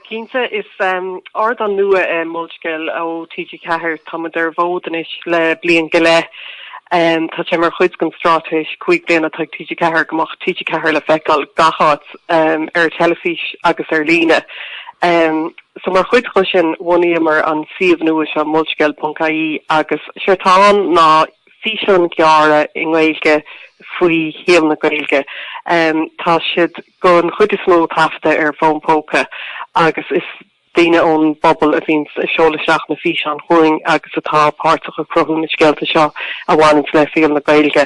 Cinnte, is ardán nua é Molscéal ó TG4. Tá muid ar an bhfód anois le bliain go leith. Tá sé mar chuid den straitéis cúig bliana atá ag TG4 go mbeadh TG4 le feiceáil gach áit, ar teilifís agus ar líne. So mar chuid dho sin bhunaíomar an suíomh nua seo, Molscéal.ie agus séard tá ann ná, físeáin ghearra i nGaeilge faoi shaol na Gaeilge. Tá siad don chuid is mó taifeadta ar fón póca agus is daoine ón bpobal a bhíonn ag seoladh isteach na físeáin chugainn agus atá páirteach ag cruthú na scéalta seo a bhaineanns le saol na Gaeilge.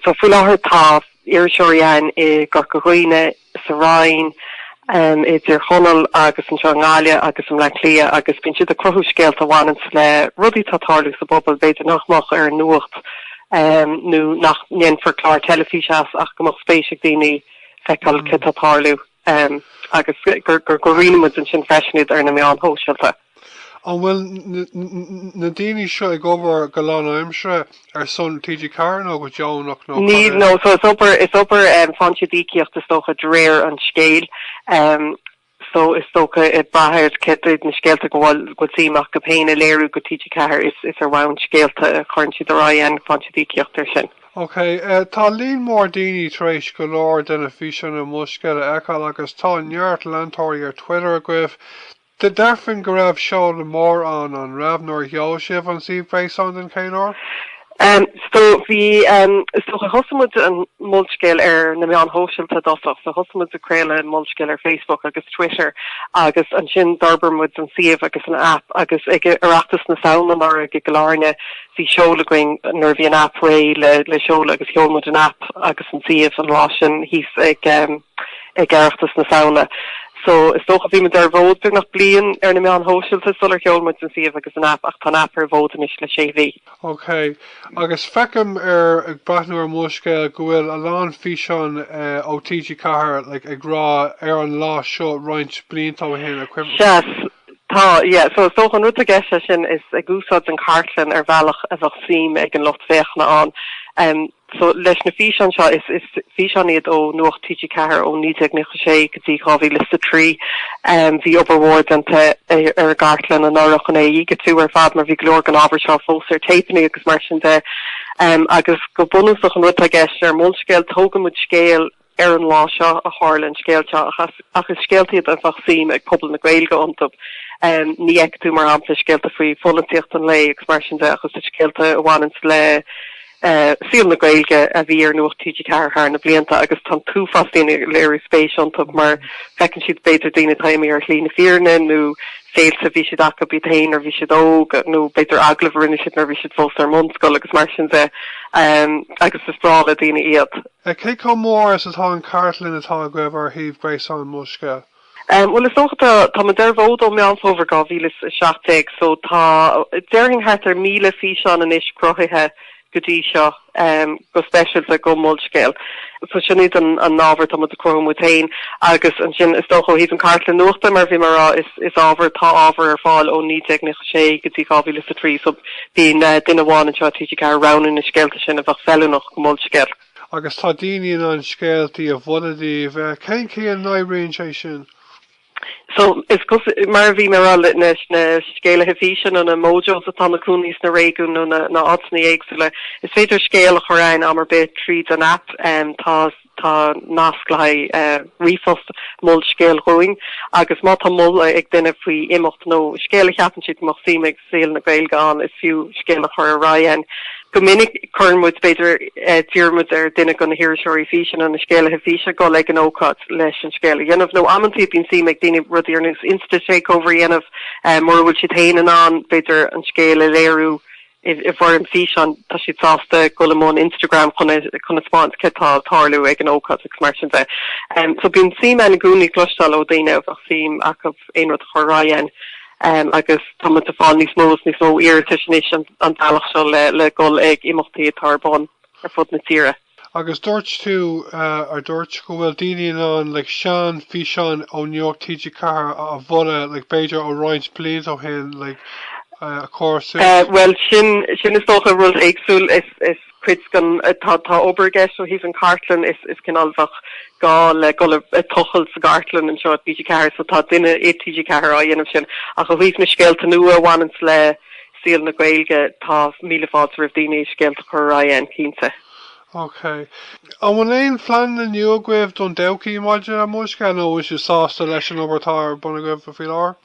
So faoi láthair tá iriseoirí ann i gCorca Dhuibhne, sa Rinn, i dTír Chonaill agus anseo i nGaillimh agus i mBleá Cliath agus bíonn siad ag cruthú scéalta a bhaineanns le rudaí atá ag tarlú sa bpobal b'fhéidir nach mbeadh ar an nuacht nó nach ndéanfar clár teilifíse as ach go mbeadh spéis ag daoine feiceáil céard tá ag tarlú agus go roinneann muid ansin freisin iad ar na meáin shóisialta. An bhfuil na daoine seo ag obair go lánaimseartha ar son TG Ceathair nó go deonach nó? Níl, no, so is obair, is obair em faoi shaghas íocaíocht is dócha de réir an scéil. Em so is dócha ag brath ar céard iad na scéalta go bhfuil bhfuil suim acu féin a léiriú go TG Ceathair is is ar bhonn scéalta a chuireann siad ar aghaidh a bhfaigheann siad íocaíocht ar sin. Ok, eh tá líon mór daoine tar éis go leor de na físeáin ar Molscéal a fheiceáil agus tá neart leantóirí ar Twitter agaibh. Dé déarfainn go raibh seoladh mór ann, an raibh, nuair a sheol sibh an suíomh gréasáin don chéad uair? Em so bhí em, is dócha thosaigh muid an Molscéal ar na meáin shóisialta i dtosach, so thosaigh muid ag craoladh an Molscéal ar Facebook agus Twitter agus ansin d'fhorbair muid an suíomh agus an app agus ag Oireachtas na Samhna anuraidh i gCill Airne bhí seoladh againn nuair a bhí an app réidh le le seoladh agus sheol muid an app agus an suíomh an lá sin thíos ag em ag Oireachtas na Samhna so is dócha bhí muid ar an bhfód beagnach bliain ar na meáin shóisialta sular sheol muid an suíomh agus an aip ach tá an aip ar an bhfód anois le sé mhí. OK. Agus feicim ar, ag breathnú ar Molscéal go bhfuil a lán físeán ó TG4 like ag rá ar an lá seo roinnt blianta ó shin a chuimh. Sea, tá, yeah. So is dócha an rud i gceist leis sin is ag úsáid an chartlann ar bhealach a bheadh suim ag an lucht féachana ann. So leis na físeáin seo, is físeáin iad ó Nuacht TG4 ó 1996 go dtí 2003. Bhí obair mhór déanta ar an gcartlann anuraidh chun é a dhigitiú ar fad mar bhí go leor den ábhar seo fós ar téipeannaí agus mar sin de. Agus go bunúsach an rud atá i gceist, ar Molscéal, tógann muid scéal, Ar an lá seo a tharla an scéal seo, ach is scéalta iad a bheadh suim ag pobal na Gaeilge iontu. Ní fheicfidh tú, mar shampla, scéalta faoi pholaitíocht an lae agus mar sin de, ach is scéalta a bhaineanns le saol na Gaeilge a bhí ar Nuacht TG4 thar na blianta agus tá an t-uafás daoine ag léiriú spéis iontu mar feiceann siad, b'fhéidir, daoine atá imithe ar shlí na fírinne nó féilte a bhí siad acu iad féin nuair a bhí siad óg nó, b'fhéidir, agallaimh a rinne siad nuair a bhí siad fós ar an mbunscoil agus mar sin de agus is breá le daoine iad. e Cé chomh mór is atá an chartlann atá agaibh ar shuíomh gréasáin Molscéal? e Bhuel, is dócha, tá muid ar an bhfód ó Meán Fómhair 2017 so tá, déarfainn, thart ar 1,000 físeán anois cruthaithe go dtí seo, go speisialta go Molscéal. So sin iad an an ábhar atá muid ag cruthú muid féin agus ansin is dócha ó thaobh an chartlann nuachta mar bhí mé a' rá is is ábhar, tá ábhar ar fáil ó 1996 go dtí 2003 so, Bíonn duine amháin anseo i TG4 ag roghnú na scéalta sin a bheadh feiliúnach go Molscéal. Agus tá daoine in ann scéaltaí a mholadh daoibh. Cén chaoi a n-oibríonn sé sin? So, is cosúil, mar a bhí mé a rá, na scéalaithe físe nó na mojos atá ina gcónaí sna réigiúin nó na áiteanna éagsúla, is féidir scéal a chur againn am ar bith tríd an aip. Tá. Tá nasc le haghaidh ríomhphost, mol scéal dhúinn agus má tá moladh ag duine faoi imeacht nó scéal a cheapann siad go mbeadh suim ag saol na Gaeilge ann, is fiú scéal a chur ar aghaidh againn. Go minic cuireann muid, b'fhéidir, d'iarr muid ar duine de na hiriseoirí físe nó na scéalaithe físe a dhul ag an ócáid leis an scéal a dhéanamh. Nó amantaí bíonn suim ag daoine rudaí ar nós Insta-takeover a dhéanamh, mura bhfuil siad féin in ann, b'fhéidir, an scéal a léiriú. i bhfoirm físeáin, tá siad sásta dul i mbun Instagram chun a thaispeáint céard atá ag tarlú ag an ócáid agus mar sin de. So bíonn suim againn i gcónaí cloisteáil ó daoine a bheadh suim acu aon rud a chur ar aghaidh againn agus tá muid ag fáil níos mó is níos mó iarratais anois an bealach seo le dhul ag imeachtaí atá ar bun ar fud na tíre. Agus dúirt tú, ar dúirt, go bhfuil daoine in ann like sean físeáin ó Nuacht TG4 a mholadh like b'fhéidir ó roinnt blianta ó shin like a chur suas. Bhuel sin, sin is dócha rud éagsúil is, is cuid den, tá, tá obair i gceist ó thaobh an chartlann is, is cineál bheadh gá le dhul a tochailt sa gcartlann anseo i TG4 so tá duine i TG4 á dhéanamh sin ach ó thaobh na scéalta nua a bhaineanns le, saol na Gaeilge tá míle fáilte roimh daoine scéalta a chur ar aghaidh againn cinnte. Ok. An bhfuil aon phleananna nua agaibh don todhchaí maidir le Molscéal nó sibh sásta leis an obair atá ar bun agaibh faoi láthair?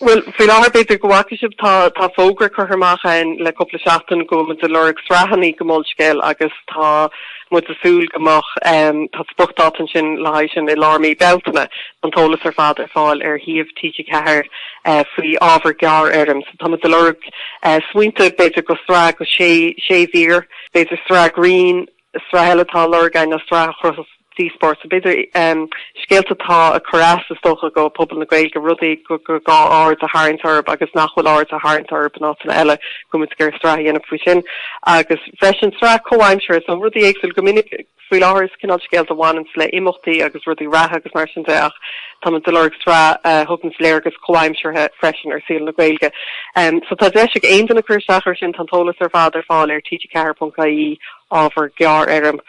Bhuel, faoi láthair b'fhéidir go bhfaca sibh tá tá fógra curtha amach againn le cúpla seachtain go bhfuil muid ag lorg sraitheannaí go Molscéal agus tá muid ag súil go mbeadh ehm tá spriocdáta ansin le haghaidh sin i lár mí Bealtaine. Tá an t-eolas ar fad ar fáil ar shuíomh TG4 faoi ábhar gearr-fhoirm. Tá muid a lorg smaointe, b'fhéidir do shraith go sé mhír, b'fhéidir sraith grinn, sraith eile atá a lorg againn nó sraith a chruthódh díospóireacht, b'fhéidir scéalta atá a cur as, is dócha, go pobal na Gaeilge, rudaí gur gá aird a tharraingt orthu agus nach bhfuil aird a tharraingt orthu in áiteanna eile, go bhfuil muid ag iarraidh sraith a dhéanamh faoi sin agus freisin sraith comhaimseartha, so rudaí éagsúil go minic. Faoi láthair is cineál scéalta a bhaineanns le imeachtaí agus rudaí reatha agus mar sin de ach táimid ag lorg sraith a thugann léargas comhaimseartha freisin ar saol na Gaeilge. So tá deis ag aon duine cur isteach ar sin, tá an t-eolas ar fad ar fáil ar TG4.ie, ábhar gearr-fhoirm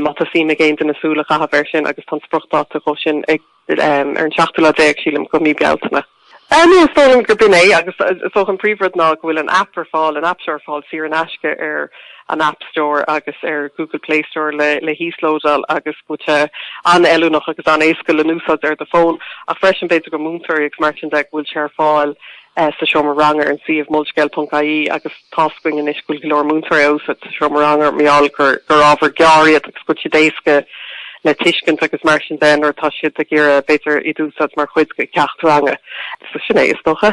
má tá suim ag aon duine súil a chaitheamh air sin agus tá an spriocdháta dhó sin ag. ar an seachtú lá déag, sílim, go mí Bealtaine. Ní, is dóigh liom gur b'in é, agus is dócha an príomhrud ná go bhfuil an aip ar fáil, an App Store ar fáil saor in aisce ar an App Store agus ar Google Play Store le híoslódáil agus go bhfuil sé an-fheiliúnach agus an-éasca le n-úsáid ar do fón, ach freisin b'fhéidir go múinteoirí agus mar sin de go bhfuil sé ar fáil. sa seomra ranga ar an suíomh molscéal.ie agus tá's againn anois go bhfuil go leor múinteoirí a úsáid sa seomra ranga, mar gheall gur ábhar gearr iad agus go bhfuil siad éasca le tuiscint agus mar sin de nuair atá siad ag iarraidh b'fhéidir iad a úsáid mar chuid de cheacht ranga. So sin é, is dócha.